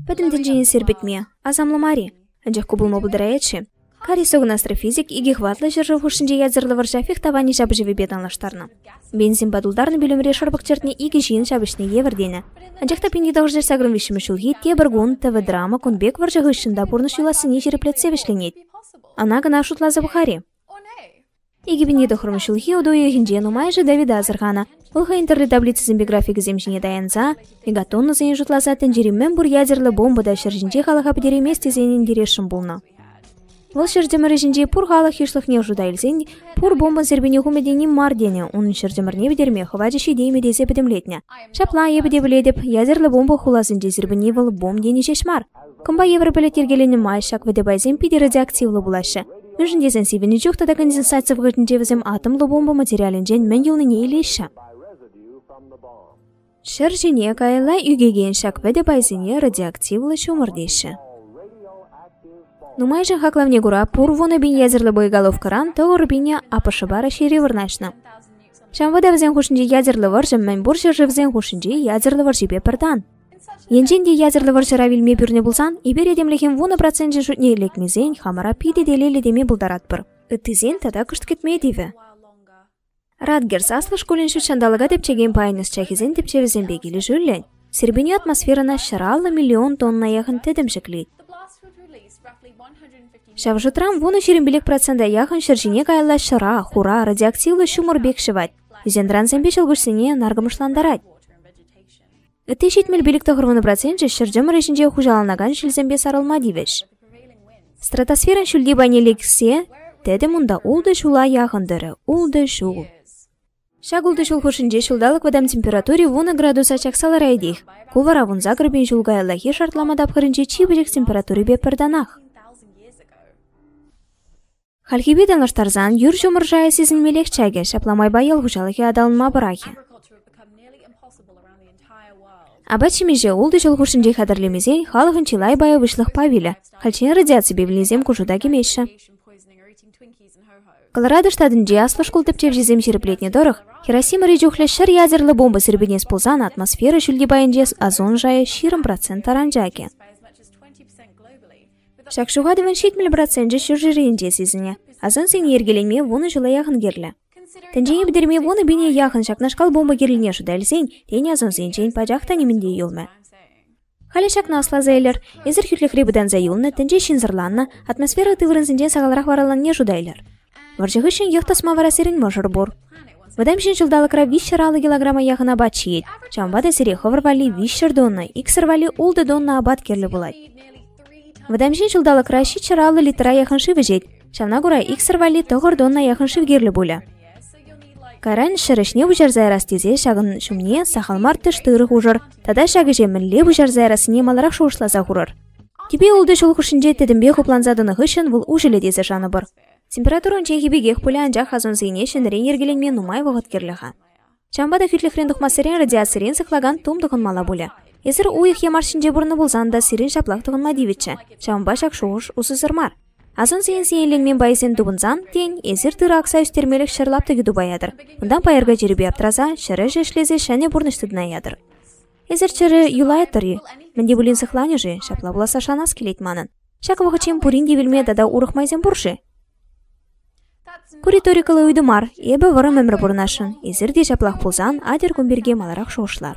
Пӗтӗм тӗнчене сирпӗтме асамлӑ мар-и? Анчах ку пулма пултарать-ши? Карисогнастр физик икӗ хӑватлӑ ҫӗршыв хушшинче ятсӑрлӑ вӑрҫа фех тӑванӗ ҫапӑҫӑвӗпе танлаштарнӑ. Бензинпа тултарнӑ пӳлӗмре шӑрпӑк чӗртнӗ икӗ ҫын ҫапӑҫнӑ евӗр тенӗ. Анчах та 1981 ҫулхи тепӗр кун ТВ-драма кун пек вӑрҫӑ хыҫҫӑн та пурнӑҫ юлассине ҫирӗплетсе вӗҫленет. Ӑна-кӑна шутласа пӑхар-и? Икӗ пин ҫыхрӑм ҫулхи уту уйӑхӗнче нумайӑшӗ Давида асӑрханӑ. Вӑл хӑйӗн тӗрлӗ таблицисемпе графикӗсем ҫине таянса мегатоннӑсене шутласа тӗнчери мӗн пур ядерлӑ бомба та ҫӗр ҫинче халӑха пӗтереймест тесен интересшӗн пулнӑ. Вӑл ҫӗр тӗмӗрӗҫӗнчи пур халӑх йышлӑхне шута илсен пур бомба серпене хумӗ тени мар тенӗ, унӑн ҫӗр тӗмӗрне вӗтерме хӑвачӗ ҫитеймӗ тесе пӗтӗмлетнӗ. Ҫапла, эпӗ те пӗлетӗп, ядерлӑ бомба хуласенче серпене вӑл бомба тени ҫеҫ мар, Кӑмпа евӗр пӗлӗт йӗркеленӗ май ҫак вӗтӗ пайсем питӗ радиоактивлӑ пулаҫҫӗ, мӗншӗн тесен сивӗннӗ чух тата конденсаци вӑхӑтӗнче вӗсем атомлӑ бомба материалӗнчен мӗн юлнине илеҫҫӗ. Ҫӗр ҫине каялла ӳкекен ҫак вӗтӗ пайсене радиоактивлӑ ҫумӑр теҫҫӗ. Нумайӑшӗн хаклавне кура пур вунӑ пин ядерлӑ боеголовкӑран тӑвӑр пинӗ АПШпа Раҫҫейре вырнаҫнӑ. Ҫав вӑтӑ вӗсен хушшинче ядерлӑ вӑрҫӑ мӗн пур ҫӗршывсен хушшинче ядерлӑ вӑрҫипе пӗр тан. Енчен те ядерлӑ вӑрҫӑра вилме пӳрнӗ пулсан, эпир этемлӗхӗн вунӑ проценчӗ шутне лекмесен хамӑра питӗ те лелӗ теме пултаратпӑр. Ыттисен тата кӑшт кӗтме тивӗ. Радгерс аслӑ шкулӗн ҫутҫанталӑка тӗпчекен пайӗн ӑсчахӗсен тӗпчевӗсемпе килӗшӳллӗн, Сирпенье атмосферӑна ҫӗр аллӑ миллион тонна яхӑн тӗтӗм ҫӗклет. Ҫав шутран вунӑ ҫирӗмпелек процента яхӑн ҫӗр ҫине каялла ҫӑра, хура, радиоактивлӑ ҫумӑр пек ҫӑвать. Ӳсентӑрансемпе ҫӑлкуҫсене наркӑмӑшлантарать. Ытти ҫитмӗл пилӗк тӑхӑрвуннӑ проценчӗ ҫӗр чӑмӑрӗ ҫинче хуҫаланакан ҫилсемпе сарӑлма тивӗҫ. Стратосферӑн ҫӳлти пайне лексе тӗтӗм унта ултӑ ҫула яхӑн тӑрӗ – ултӑ ҫул. Ҫак ултӑ ҫул хушшинче ҫулталӑк вӑтам температури вунӑ градуса чакса лараятех. Ку вара вунса кӗрпин ҫул каяллахи шартлама тапхӑрӗнче чи пӗчӗк температурипе пӗртанах. Хальхипе танлаштарсан юр ҫумӑр шайӗ сисӗнмеллех чакӗ, ҫапла майпа ял хуҫалӑхӗ аталанма пӑрахӗ. Апат-ҫимӗҫе ултӑ ҫул хушшинче хатӗрлемесен халӑхӑн чылай пайӗ выҫлӑхпа вилӗ. Хальччен радиаципе вилнисем ку шута кӗмеҫҫӗ. Колорадо штатӗнче аслӑ шкул тӗпчевҫисем ҫирӗплетнӗ тӑрӑх, Хиросимӑри чухлӗ ҫӗр ядерлӑ бомба сирпӗнес пулсан атмосфера ҫӳлти пайӗнче озон шайӗ ҫирӗм процент таран чакӗ. Ҫак ҫухатӑвӑн ҫитмӗл проценчӗ ҫурҫӗрӗнче сисӗнӗ. Асӑнсене йӗркелеме вунӑ ҫула яхӑн кирлӗ. Тӗнчене пӗтерме вунӑ пине яхӑн ҫакнашкал бомба кирлине шута илсен тен асӑнсенчен пачах та нимӗн те юлмӗ. Халӗ ҫакна асласа илер. Эсир хӳтлӗхре пытанса юлнӑ, тӗнче ҫынсӑрланнӑ, атмосфера тыврӑнсенчен сахалрах вараланне шута илер. Вӑрҫӑ хыҫҫӑн йӑх тӑсма вара сирӗн мӑшӑр пур. Вӑтам ҫын ҫулталӑкра виҫҫӗр аллӑ килограмма яхӑна апат ҫиет. Ҫавӑнпа та сире хӑвӑр валли виҫҫӗр тонна, иксӗр валли ултӑ тонна апат кирлӗ пулать. Вӑтам ҫын ҫулталӑкра ҫиччӗр аллӑ литра яхӑн шыв ӗҫет. Ҫавна кура иксӗр валли тӑхӑр тонна яхӑн шыв кирлӗ пулӗ. Кайран ҫӗр ӗҫне пуҫарса ярас тесе ҫакӑн ҫумне сахал мар тӗш тырӑ хушӑр тата ҫак ӗҫе мӗнле пуҫарса ярассине маларах шухӑшласа хурӑр. Кипи ултӑ ҫул хушшинче тӗтӗмпе хупланса тӑнӑ хыҫҫӑн вӑл уҫӑлӗ тесе шанӑпӑр. Температура унчченхи пекех пулӗ, анчах озонсене ҫӗнӗрен йӗркеленме нумай вӑхӑт кирлӗ-ха. Ҫавӑнпа та хӳтлӗхрен тухмассерен радиацирен сыхлакан тум тӑхӑнмалла пулӗ. Эсир уйӑх е марс ҫинче пурӑннӑ пулсан та сирӗн ҫаплах тӑхӑнма тивӗччӗ, ҫавӑнпа ҫак шухӑш усӑсӑр мар. Озонсен сиенленмен пайӗсем тупӑнсан, тен, эсир тырӑ акса ӳстермелӗх ҫӗр лаптӑкӗ тупа ятӑр. Унтан пайӑрка чирӗпе аптӑраса, ҫӗр ӗҫӗ ӗҫлесе ҫӗнӗ пурнӑҫ тытса ятӑр. Эсир чӗрӗ юлайӑттӑр-и? Мӗн те пулин сыхланӗ-ши? Ҫапла пуласса шанас килет манӑн. Ҫак вӑхӑтчен пурин те вилме тата урӑх майсем пур-ши? Ку риторикӑллӑ ыйту мар. Эпӗ вӑрӑм ӗмӗр пурӑнасшӑн. Эсир те ҫаплах пулсан атьӑр кун пирки маларах шухӑшлар.